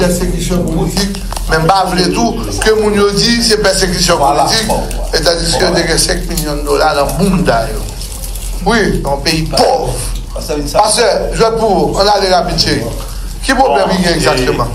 pèsekisyon politik men m pa vle tou ke moun yo di se pèsekisyon politik etandiske yo te gen 5 milyon dola nan bounda yo wi yon peyi pòv pastè jwèt pou ou ann ale rapid cheri ki pwoblèm ki gen egzakteman?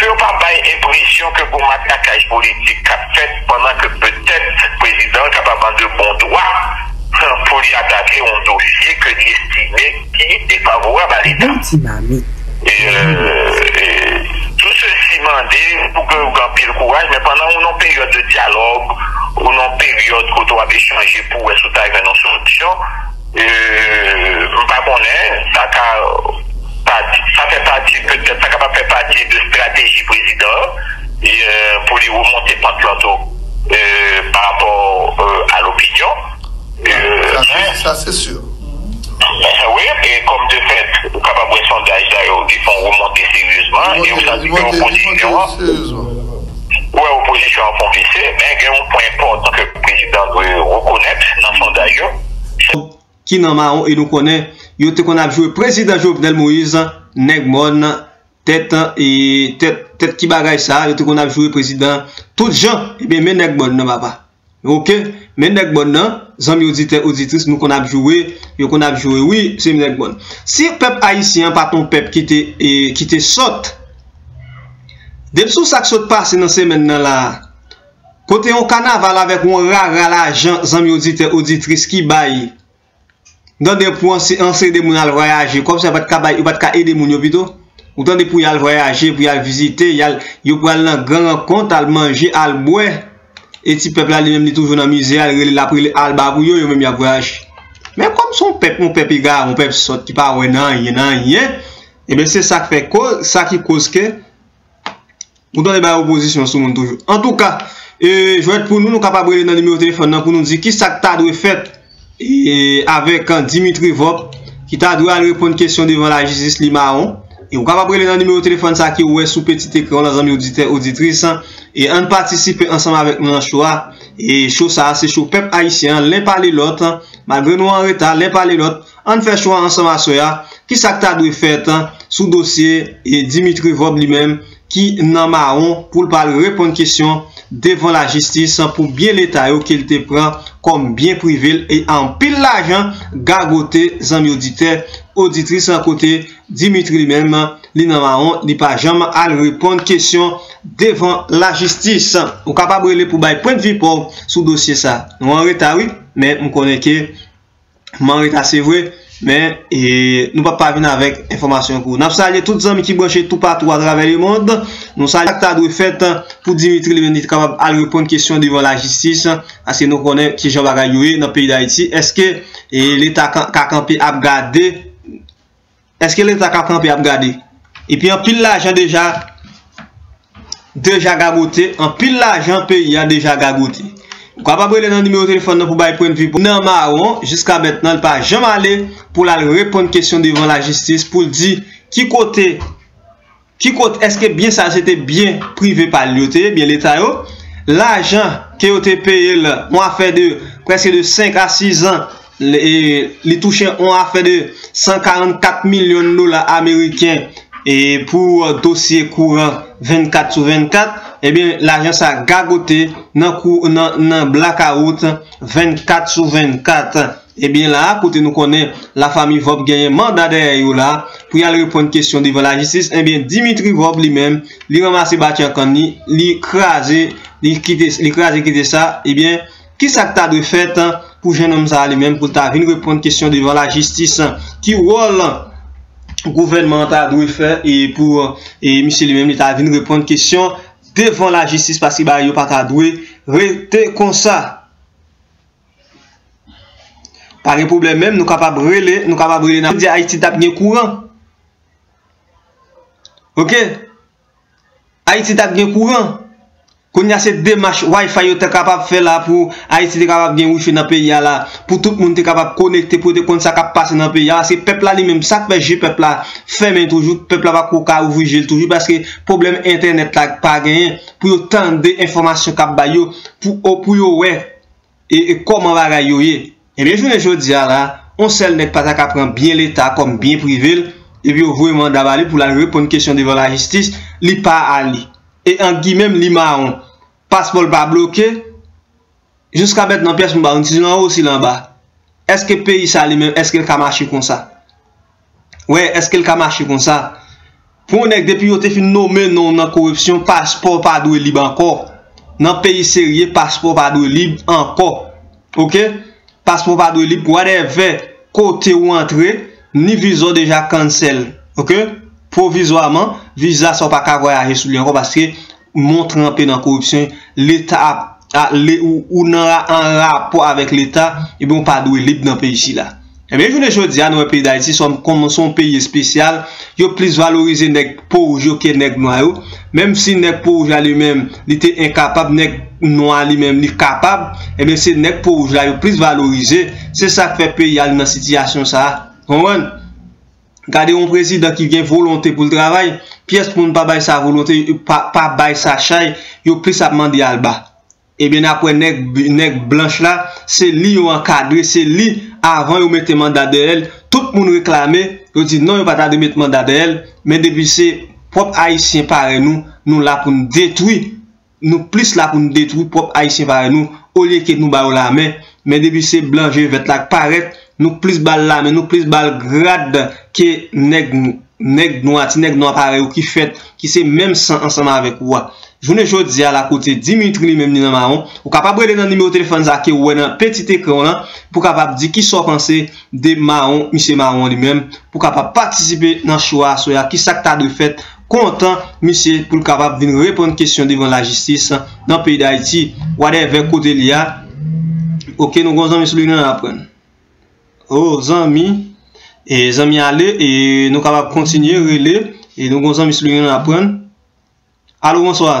Pou yo pa bay enpresyon ke gon matraquage politik kap fèt pandan ke petèt prezidan an kapab an de bon dwa pou li atake yon dosye ke li estime ki defavorab a leta. Tout sesi mande pou ke ou gen anpil kouraj men pandan ou nan yon peryòd de dyalòg, ou nan yon peryòd kote wap echanje pou wè si ou ta jwenn yon solisyon, Euh m pa konnen, sa ka pa sa fè pati petèt sa kapab fè pati de strateji prezidan an pou li remonte pant lan tou pa rapò a lopinyon euh sa se sur wi e kòm de fèt ou kapab wè sondaj sa yo ki fon remonte seryezman e ou santi ke opozisyon an. Wè opozisyon an fon visye, men gen yon pwen enpòtan ke prezidan an dwe rekonèt nan sondaj yo, se. Ki nan mawon e nou konnen yo te konn ap jwe prezidan Jovenel Moïse nèg mòn tèt e tèt tèt ki bagay sa yo te konn ap jwe prezidan tout jan ebyen men nèg mòn nan papa. Ok men nèg bòn nan zanmi oditè oditris nou konn ap joure yo konn ap joure wi se m nèg bòn si pèp ayisyen an pat yon pèp ki te ki te sòt depi sou sak sot pase nan semèn nan la a kote yon kanaval avèk yon rara lajan zanmi oditè oditris ki bay Tande pou ansede moun al vwayaje, kòb sa yo pat ka bay, yo pat ka ede moun yo pito? Ou tande pou yal vwayaje, pou yal vizite, yal, yo pral nan gran rankont, al manje, al bwè, e ti pèp la li menm li toujou nan mize a, li rele lap rele alba pou yo, yo menm yap vwayaje. Men kòm son pèp, yon pèp egare, yon pèp sòt ki pa wè nan anyen, nan anyen, eben se sak fè koz, sa ki koz ke Ou tande bay opozisyon sou moun toujou. Antouka, jwèt pou nou, nou kapab rele nan nimewo telefòn nan pou nou di ki sa k ta dwe fèt avèk Dimitri Vorb ki ta dwe al reponn kesyon devan lajistis li mawon. E ou kapab rele nan nimewo telefòn sa ki ou wè sou peti ekran w lan zanmi oditè, oditris. E ann patisipe ansanm avèk nou nan cho a. E cho sa a se cho pèp ayisyen an len pale lòt. Malgre nou an reta, len pale lòt. Ann fè chwa ansanm aswè a, ki sa k ta dwe fèt sou dosye Dimitri Vorbe li menm ki nan mawon pou l pa al reponn kesyon devan lajistis pou byen leta yo ke l te pran kòm byen prive l e anpil lajan gagote zanmi oditè, oditris kote Dimitri li menm li nan mawon li pa janm al reponn kesyon devan lajistis. Ou kapab rele pou bay pwendvi pa w sou dosye sa. Nou an reta wi, men m konnen ke M an reta se vre, men nou pap pa vin avèk enfòmasyon pou ou. N ap salye tout zanmi ki branche toupatou atravè lemond. Nou salye sa k ta dwe fèt pou Dimitri Leonid te kapab al reponn kesyon devan lajistis, paske nou konnen ki jan bagay yo ye nan peyi Dayiti. Èske Leta ka kanpe ap gade? Eske leta ka kanpe ap gade. Epi anpil lajan deja deja gagote anpil lajan peyi a deja gagote. Ou kapab rele nan nimewo telefòn nan pou bay pwennvi pou nan mawon jiska mètnan li pa janm ale pou l al reponn kesyon devan lajistis pou l di ki kote Ki kot eske byen sa se te byen prive pa l yo te ye, byen leta yo? Lajan ke yo te peye l on afè de preske de 5 a 6 zan li touche on afè de 144 milyon dola ameriken pou dosye kouran 24 sou 24, ebyen lajan sa gagote nan blakawout 24 sou 24. Ebyen la a kote nou konnen la fami Vorb genyen manda dèyè yo la pou yal reponn kesyon devan la jistis ebyen Dimitri Vorb li menm li ranmase batyan kann li li kraze li kite li kraze kite sa ebyen kisak ta dwe fèt pou jennonm sa a li menm poul ta vin reponn kesyon devan la jistis ki wòl gouvènman an ta dwe fè e pou e misye li menm li ta vin reponn kesyon devan la jistis paske bagay yo pata dwe rete konsa. Pa gen pwoblèm menm nou kapab rele nou kapab rele nan media ayiti tap gen kouran ok ayiti tap gen kouran kounya se demach wifi yo ta kapab fè la pou ayiti te kapab gen wifi nan peyi a la pou tout moun te kapab konekte pou yo te konn sa kap pase nan peyi a se pèp la li menm sak fè je pèp la fèmen toujou pèp la pako ka ouvri je l toujou paske pwoblèm entènèt la pa genyen pou yo tande enfòmasyon kap bay yo pou yo wè e kòman bagay yo ye. Ebyen jounen jodi a la, on sèl nèg pa ta ka pran byen leta kòm byen prive l, epi yo voye manda ba li pou l al reponn kesyon devan lajistis, li pa ale. E ant gimè m li mawon. Paspò l pa bloke. Jouska mètnan pyès moun pa konn si l anwo si l anba. Eske peyi sa li menm eske l ka mache konsa? Wè eske l ka mache konsa. Pou yon nèg depi yo te fin nome non w nan koripsyon paspò pa dwe lib ankò. Nan peyi serye paspò pa dwe lib ankò. Ok. Paspò pa dwe lib whatever kote ou antre ni viza w deja cancel ok. Pwovizwaman viza sa w pa ka vwayaje sou li ankò paske. moun tranpe nan koripsyon, leta ap, ou nan an rapò avèk leta, ebyen ou pa dwe lib nan peyi sila. Ebyen jounen jodi a nou wè peyi Dayiti se yon peyi espesyal, yo plis valorize nèg po wouj yo ke nèg nwa yo, menm si nèg po wouj la li menm li te enkapab, nèg nwa a li menm li kapab, ebyen se nèg po wouj la yo plis valorize, se sa k fè peyi a li nan sitiyasyon sa a, konprann? Gade yon prezidan ki gen volonte pou l travay, pyès moun pa bay sa volonte, pa bay sa chay, yo plis ap mande alba. Ebyen n ap wè nèg blanch la, se li yo ankadre, se li avan yo mete manda dèyè l, tout moun reklame, yo di non yo pa ta dwe met manda dèyè l, men depi se pwòp ayisyen parèy nou, nou la pou n detwi. nou plis la pou nou detwi pwòp ayisyen parèy nou olye ke nou ba yo lamen men depi se blan je vèt la k parèt nou plis ba l lamen nou plis ba l grad ke nèg nèg nwa ti nèg nwa parèy ou ki fèt ki se menm san ansanm avèk ou a jounen jodi a la kote dimitri li menm li nan mawon ou kapab rele nan nimewo telefòn sa ke ou wè nan petit ekran w lan pou kapab di kisa w panse de mawon misye mawon li menm pou kapab patisipe nan chou a aswè a kisa k ta dwe fèt kontan misye pou l kapab vin reponn kesyon devan lajistis nan peyi dayiti whatever kote li a ok nou gon zanmi sou liy lan aprann oh zanmi e zanmi ale e nou kapab kontinye rele e nou gon zanmi sou liy lan aprann alo bonswa.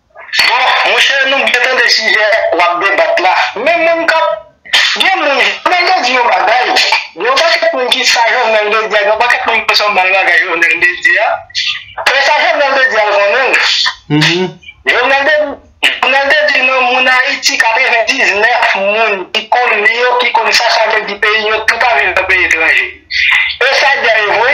Bon monchè nou byen tande sijè wap debat la men moun kap gen moun jovenel te di yon bagay gen yon pakèt moun ki sa jovenel te di a gen yon pakèt moun ki san bal bagay jovenel te di a men sa jovenel te di a l konnen l jovenel te jovenel te di nan moun ayiti 99 moun ki konn li yo ki konn sa sa vle di peyi yo tout ap viv nan peyi etranje e sa l di a e vre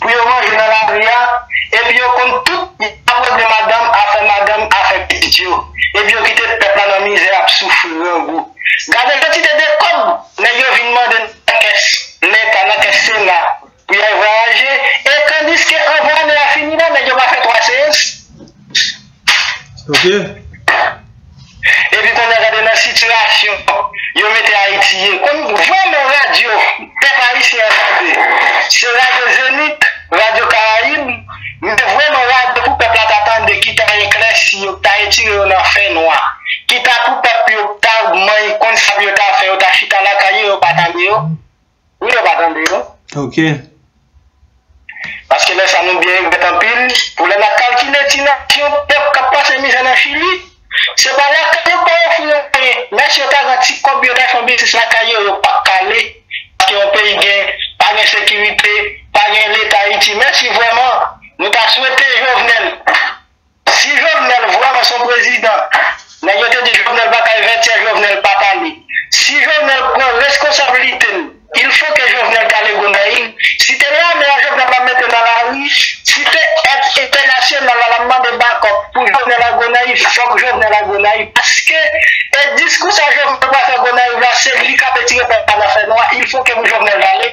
pou yo manje nan lari a, epi yo konn tout apwèble madanm, afè madanm, afè pitit yo, epi yo kite pèp la nan mizè ap soufri grangou. Gade kantite de kòb nèg yo vin mande nan kès Leta, nan kès Sena pou y al vwayaje, e tandiske anvan ane a fini la nèg yo pa fè 3 seyans. Ok. Epi kounye a gade nan sitiyasyon yo mete Ayiti ye. Konn vwa nan radyo pèp ayisyen an tande. Se radyo Zenith, radyo Karayib, men vwa nan radyo pou pèp la ta tande ki ta eklèsi yo, ki ta etire yo nan fè nwa, ki ta pou pèp yo ta many konn sa pou yo ta fè, yo ta chita lakay yo, yo pa tande yo. Wi yo pa tande yo. Ok. Paske lè sa nou byen regrèt anpil pou lè nap kalkile ti nasyon pèp kap pase mizè nan chili se pa lakay yo pa ofri yo anyen men si yo ta gen ti kòb yo ta fon biznis lakay yo yo pap k ale paske yon peyi gen pa gen sekirite pa gen leta ayiti men si vrèman nou ta swete jovenel Si jovenel vreman son prezidan nèg yo te di jovenel pa kay 20 tiè jovenel pa pale si jovenel pran reskonsabilitel il fo ke jovenel kale gonayiv si te lame a jovenel la mete nan lari si te et entènasyonal la lap mande bakòp pou jovenel a gonayiv fok jovenel a gonayiv paske e diskou sa jovenel pral fè gonayiv la se li kap etire pèp la nan fè nwa il fo ke pou jovenel vale.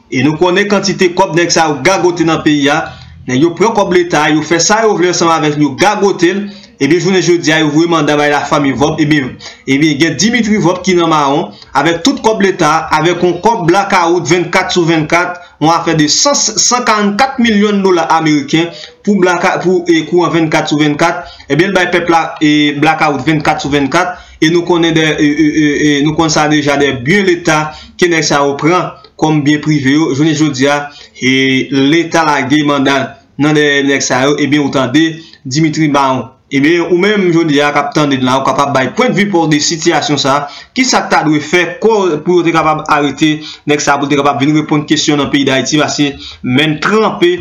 E nou konnen kantite kòb nèg sa yo gagote nan peyi a, nèg yo pran kòb leta a yo fè sa yo vle ansanm avèk li yo gagote l, ebyen jounen jodi a yo voye manda bay la fanmi vòb ebyen ebyen gen Dimitri vòb ki nan mawon avèk tout kòb leta a avèk yon kòb blakawout 24 sou 24 yon afè de 144 milyon dola ameriken pou blaka pou e kouran 24 sou 24 ebyen l bay pèp la e blakawout 24 sou 24 e nou konnen dè e e e e nou konn sa deja dè byen leta ke nèg sa yo pran. kòm byen prive yo jounen jodi a e leta lage manda nan dèyè nèg sa yo ebyen ou tande Dimitri Baron ebyen ou menm jodi a kap tande n la ou kapab bay pwendvi pa w de sitiyasyon sa ki sa k ta dwe fè kò pou yo te kapab arete nèg sa pou l te kapab vin reponn kesyon nan peyi dayiti pase menn tranpe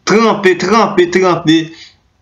tranpe tranpe tranpe.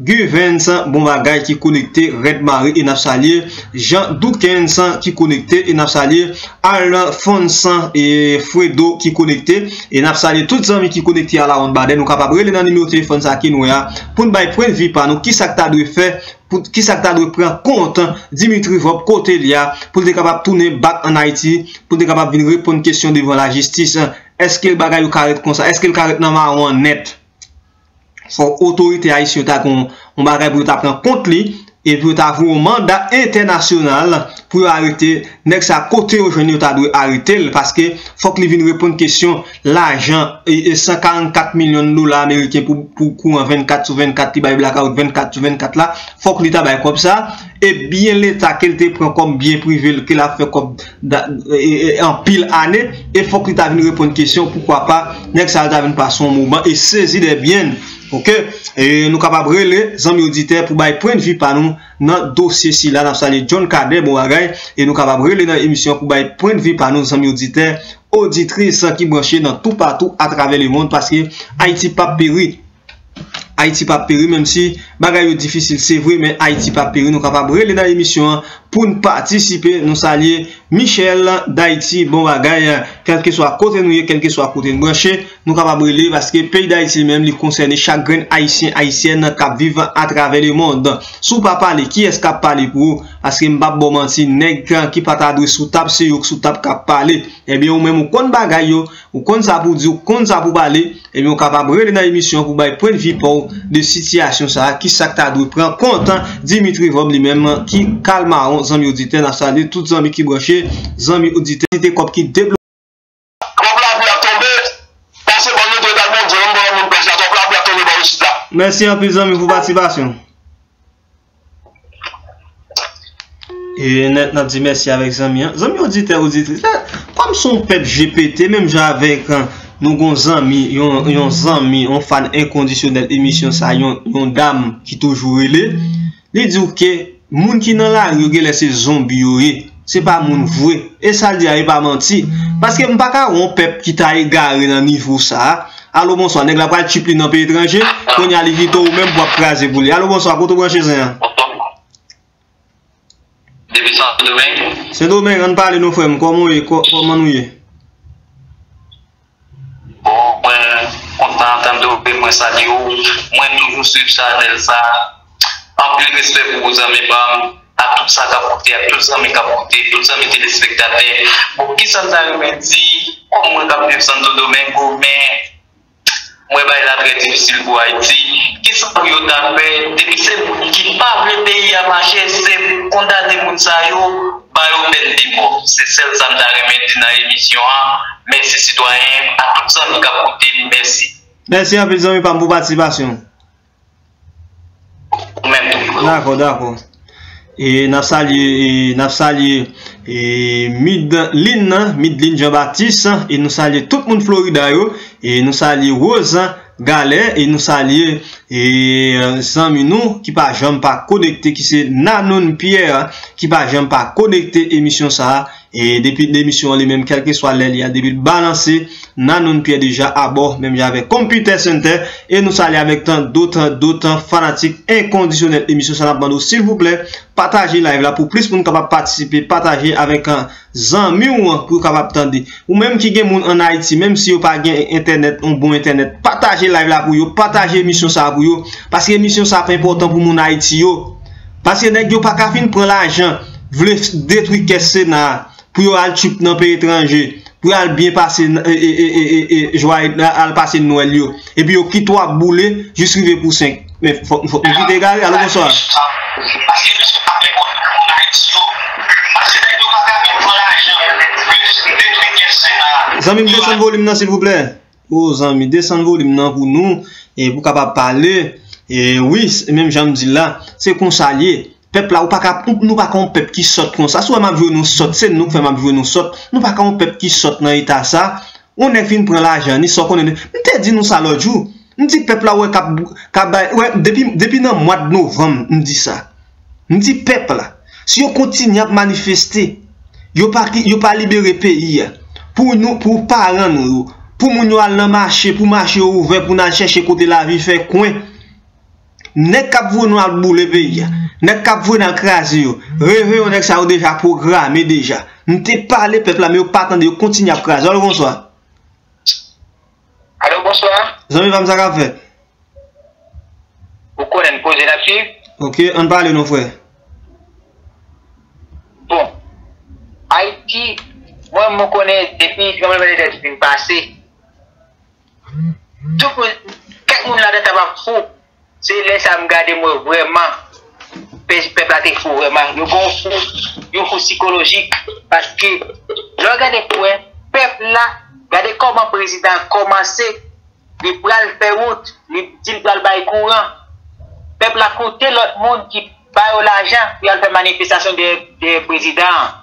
Guvens bon bagay ki konekte red mare e nap salye Jean Dukens ki konekte e nap salye Alphonse Fredo ki konekte e nap salye tout zanmi ki konekte a la wonn badè nou kapab rele nan nimewo telefòn sa ke nou wè a poun bay pwen vi pa nou kisak ta dwe fè pou kisak ta dwe pran kont Dimitri Vorb kotel ya poul te kapab tounen bak an Ayiti poul te kapab vin reponn kesyon devan lajistis èske bagay yo ka ret konsa èskel ka ret nan mawon nèt. fòk otorite ayisyen yo ta gen yon bagay pou yo ta pran kont li, epi yo ta voye yon manda entènasyonal pou yo arete nèg sa a, kote yo jwenn li yo ta dwe arete l, paske fòk li vin reponn kesyon lajan 144 milyon dola ameriken pou kouran 24 sou 24 ki bay blakawout 24 sou 24 la, fòk li ta bay kòb sa, e byen leta ke l te pran kòm byen prive l ke l ap fè kòb. anpil ane e fok li ta vin reponn kesyon poukwa pa nèg sa yo ta vin pase yon moman e sezi dè byen n ok e nou kapab rele zanmi oditè pou bay pwen de vi pa nou nan dosye sila nap salye John Cadet bon bagay e nou kapab rele nan emisyon pou bay pwen de vi pa nou zanmi oditè oditris ki branche nan toupatou atravè lemond paske Ayiti pap peri. Ayiti pap peri menm si bagay yo difisil se vre men Ayiti pap peri nou kapab rele nan emisyon an poun patisipe nou salye Michel dayiti bon bagay kèlkeswa kote nou ye kèlkeswa kote nou branche nou kapab rele paske peyi dayiti li menm li konsène chak grenn ayisyen ayisyèn kap viv atravè le mond si w pa pale kiyès kap pale pou ou paske m pap ba w manti nèg ki pata dwe sou tab se yo k sou tab kap pale ebyen ou menm ou konn bagay yo. Ou konn sa pou w di, ou konn sa pou w pale, ebyen ou kapab rele nan emisyon an pou w bay pwendvi pa w de sitiyasyon sa a, kisa k ta dwe pran kont Dimitri Vorbe li menm ki kal mawon zanmi oditè, n ap salye tout zanmi ki branche, zanmi oditè, kantite kòb ki debloke. Twòp lapli ap tonbe, pase ban nou dwe bay Bondye, menm pandan moun pè sa, twòp lapli ap tonbe bò isit la. Mèsi anpil zanmi pou patisipasyon w. Eee nèt nan di mèsi avèk zanmi an. Zanmi oditè oditris la, kòm son pèp je pete menm jan avèk nou gon zanmi, yon zanmi, yon fan enkondisyonèl emisyon sa, yon dam ki toujou rele, li di ou ke moun ki nan lari yo genlè se zonbi yo ye. Se pa moun vre. E sa l di a e pa manti. Paske m pa ka wè yon pèp ki ta egare nan nivo sa a. Alo bonswa, nèg la pral tchiplin nan peyi etranje, kounye a li kite ou menm pou w ap kraze pou li. Alo bonswa, kote w branche zen an? Depi Sendomeng. Sendomeng, an n pale non frè m, kòman ou ye? Kòman nou ye? Bon mwen kontan tande w e mwen salye w, mwen toujou swiv chanèl sa, anpil respè pou ou zanmi pam, ak tout sa kap koute ak tout zanmi kap koute, tout zanmi telespektatè, bon kisa m ta renmen di kòm mwen kap viv Santo Domingo men. Mwen bay la trè difisil pou ayiti kisa pou yo ta fè depi se moun ki pa vle peyi a mache se pou kondane moun sa yo ba yo pèn de mò se sèl sa m ta renmen di nan emisyon an mèsi sitwayen m a tout zanmi kap koute m mèsi. Mèsi anpil zanmi pam pou patisipasyon w. Dakò, dakò. E nap salye, e nap salye e Midlin nan, Midlin Jean Baptiste e nou salye tout moun Florida yo e nou salye Rosa Galè e nou salye e zanmi nou ki pa janm pa konekte ki se Nanon Pierre ki pa janm pa konekte emisyon sa a. E depi demisyon an li menm kèlkeswa lè li a depi l balanse Nanoun Pyè deja abò menm jan avèk Konpitè Sentè e nou salye avèk tan do tan do tan fanatik enkondisyonèl emisyon sa n ap mande w silvouplè pataje live la pou plis moun kapab patisipe pataje avèk zanmi w pou yo kapab tande ou menm ki gen moun an Ayiti menm si yo pa gen entènèt yon bon entènèt pataje live la pou yo pataje emisyon sa pou yo paske emisyon sa ap enpòtan pou moun Ayiti yo Paske nèg yo paka fin pran lajan vle detwi kès sena a pou yo al tchuip nan peyi etranje pou yo al byen pase jwaye al pase nwèl yo epi yo kit wap boule jis rive pou 5 men fòk nou kit egare alo bonswa. Paske nèg yo paka fin pran lajan vle detwi kès sena a. Zanmim desann volim nan silvouplè. Oh zanmi desann volim nan pou nou pou kapab pale wi menm janm dil la se konsal ye pèp la ou paka nou paka yon pèp ki sòt konsa si ou wè map jwe nou sòt se nou ki fè map jwe nou sòt nou paka yon pèp ki sòt nan eta sa yon nèg fin pran lajan ni sa ou konnen de mte di nou sa lòt jou mdi pèp la ou wè kap depi nan mwad novanm mdi sa M di pèp la, si yo kontinye ap manifeste, yo pa yo pa libere peyi a, pou nou pou paran nou yo, pou moun yo al nan mache, pou mache yo ouvè pou n al chèche kote lavi fè kwen, nèg k ap voye nou al boule peyi a, nèg k ap voye n al kraze yo, reveyon nèg sa yo deja pwograme deja. M te pale pèp la men yo pa tande yo kontinye ap kraze. Alo bonswa. Alo, bonswa. Zanmi pa m sa k ap fèt? Ou konnen n koze n ap suiv. Ok, an n pale non frè. Bon, Ayiti, mwen m konnen depi tranbleman de tè te fin pase, tout moun, kèk moun ladan kapab fou, Se lè sa m gade m wè vrèman pèp la te fou vrèman. Yo gen yon fou, yon fou sikolojik paske lè w gade pou wè pèp la gade kòman prezidan an kòmanse li pral fè wout, li di l pral bay kouran. Pèp la koute lòt moun ki ba yo lajan pou y al fè manifestasyon dèyè prezidan an.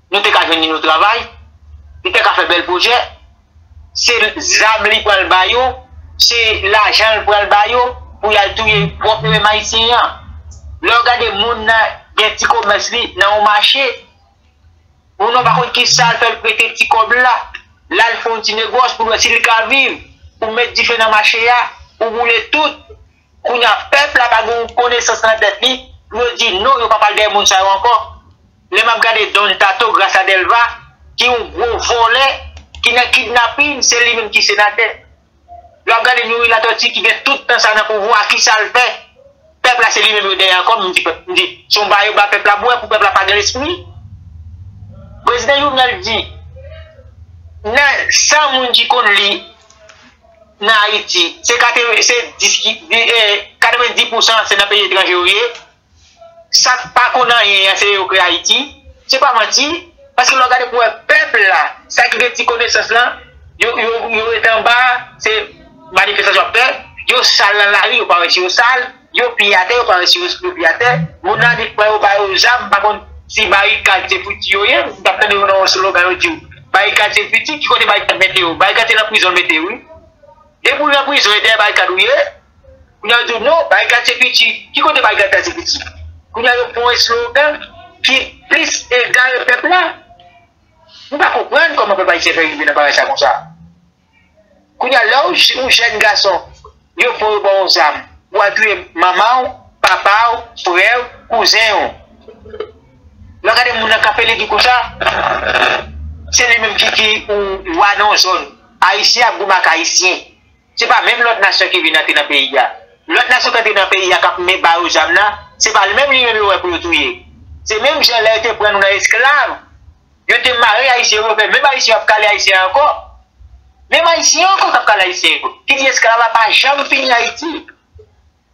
nou te ka jwenn yon travay, li te ka fè bèl pwojè, se zam li pral ba yo, se lajan li pral ba yo pou yal touye pwòp yo menm ayisyen an. Lè ou gade moun nan gen ti komès li nan yon mache, moun nan pa konn ki sal fè li prete ti kòb la, lal fè yon ti negòs pou l wè si li ka viv, ou met dife nan mache a, ou boule tout. Kounya pèp la pa gen yon konesans nan tèt li pou yo di non yo pa pral dèyè moun sa yo ankò. Lè map gade Don Tato gras a Delva ki yon gwo vòlè ki nan kidnapin se li menm ki senatè. Lè wap gade Youri Latortue ki gen tout tan sa nan pouvwa kisal fè? Pèp la se li menm yo dèyè ankò m di pèp m di se yon ba yo ba pèp la bwè pou pèp la pa gen lespri. Prezidan Jovenel di nan 100 moun ki konn li. nan Ayiti se 90 pousan se nan peyi etranje yo ye, sa k pa konn anyen an se yo kreye Ayiti, se pa manti, paske lè w gade pou wè pèp la, sa ki gen ti konesans lan, yo ret anba, se manifestasyon y ap fè, yo sal nan lari, yo pa wè si yo sal. Yo piye atè yo pa resi yo esplose piye atè moun nan li pran yo ba yo zam m pa konn si barikad se pwiti yo ye m tap tande yo nan yon slogan yo diw barikad se pwiti ki kote barikad mete yo barikad se nan prizon yo mete yo wi depi ou nan prizon e dèyè barikad ou ye kounya yo diw non barikad se pwiti ki kote barikad ta se pwiti kounya yo pran yon slogan ki plis egare pèp la m pa konprann kòman pèp ayisyen fè rive nan bagay sa konsa. Kounya lè ou jèn gason yo pran yo baw yon zam pou al touye manmanw, papaw, frèw, kouzenw. Lè w gade moun nan kanpe legi konsa se li menm ki wa nan yon zòn. Ayisyen ap goumen ak ayisyen. Se pa menm lòt nasyon ki vin antre nan peyi a. Lòt nasyon ki antre nan peyi a kap men ba yo zam nan se pa menm li menm yo wè pou yo touye. Se menm jan lè yo te pran nou nan esklav. Yo te mare Ayisyen yo fè menm Ayisyen yo ap kale Ayisyen ankò. Menm Ayisyen yo ankò k ap kale Ayisyen yo. Ki di esklav la pa janm fini Ayiti.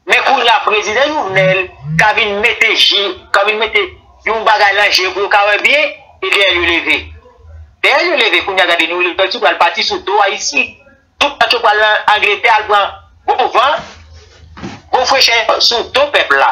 Men kounye a prezidan Jovenel ka vin mete je, ka vin mete yon bagay lan je pou yo ka wè byen, e dèyè l yo leve. Dèyè l yo leve kounye a gade New Liberty pral pati sou do Ayisyen. Tout pati yo pral lan Angletè al pran bon van, bon frechè sou do pèp la.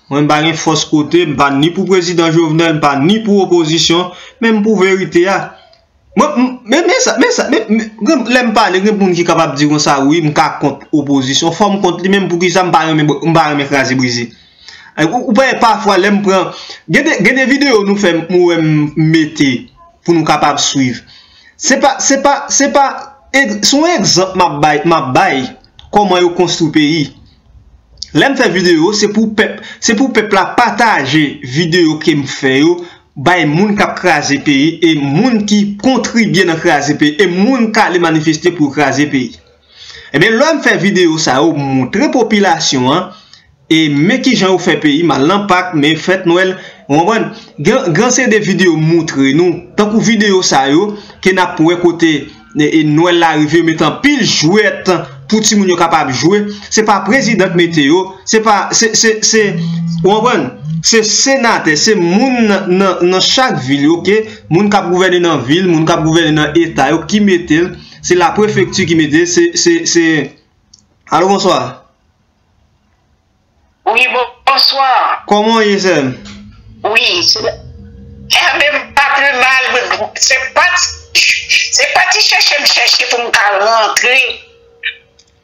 Mwen pa gen fòs kote, m pa ni pou prezidan Jovenel, m pa ni pou opozisyon, men m pou verite a. Mwen, men, men sa, men sa, men, men, lè m pale, gen moun ki kapab di konsa, wi, m ka kont opozisyon, fò m kont li, men pou ki sa m pa renmen, m pa renmen kraze brize. Ou pa wè pafwa lè m pran, gen de, gen de videyo nou fè, m wè m mete pou nou kapab swiv. Se pa, se pa, se pa, se yon egzanp m ap bay, m ap bay kòman yo konstwi peyi. Lèm fè video se pou pèp se pou pèp la pataje video kem fè yo bay moun kap kraze peyi e moun ki kontribye nan kraze peyi e moun kale manifeste pou yo kraze peyi ebyen lèm fè video sa yo moutre popilasyon an e men kijan yo fè peyi mal nan pak men fèt nwèl ou konprann gen gen se de video moutre nou tankou video sa yo ke nap wè kote. E nwèl la rive yo mete anpil jwèt pou timoun yo kapab jwe. Se pa prezidan k mete yo. Se pa, se, se, se, ou konprann? Se senatè, se moun nan, nan chak vil yo, ke moun k ap gouvène nan vil, moun k ap gouvène nan eta yo ki mete l. Se la prefekti ki mete l. Se, se, se. Alo, bonswa. Wi bonswa. Koman w ye sèm? Wi enben m pa pi mal se pa se pa ti chèche m chèche pou m ka rantre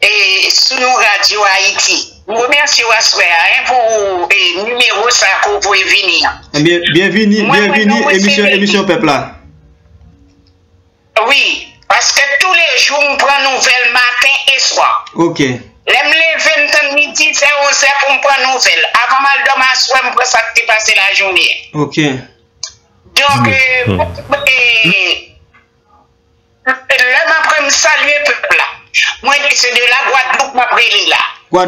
e sou yon radyo ayiti m remèsye w aswè a hein pou e nimewo sa ke w voye vini an. Enben byenvini byenvini emisyon emisyon pèp la. Wi, paske toulejou m pran nouvèl maten e swa. Ok. Lè m leve m tann midi, vè onzè pou m pran nouvèl. Avan m al dòmi aswè m pran sa k te pase lajounen an. Ok. Donk, lè m apre m salye pèp la. Mwen di se de la Gwadloup m ap rele la.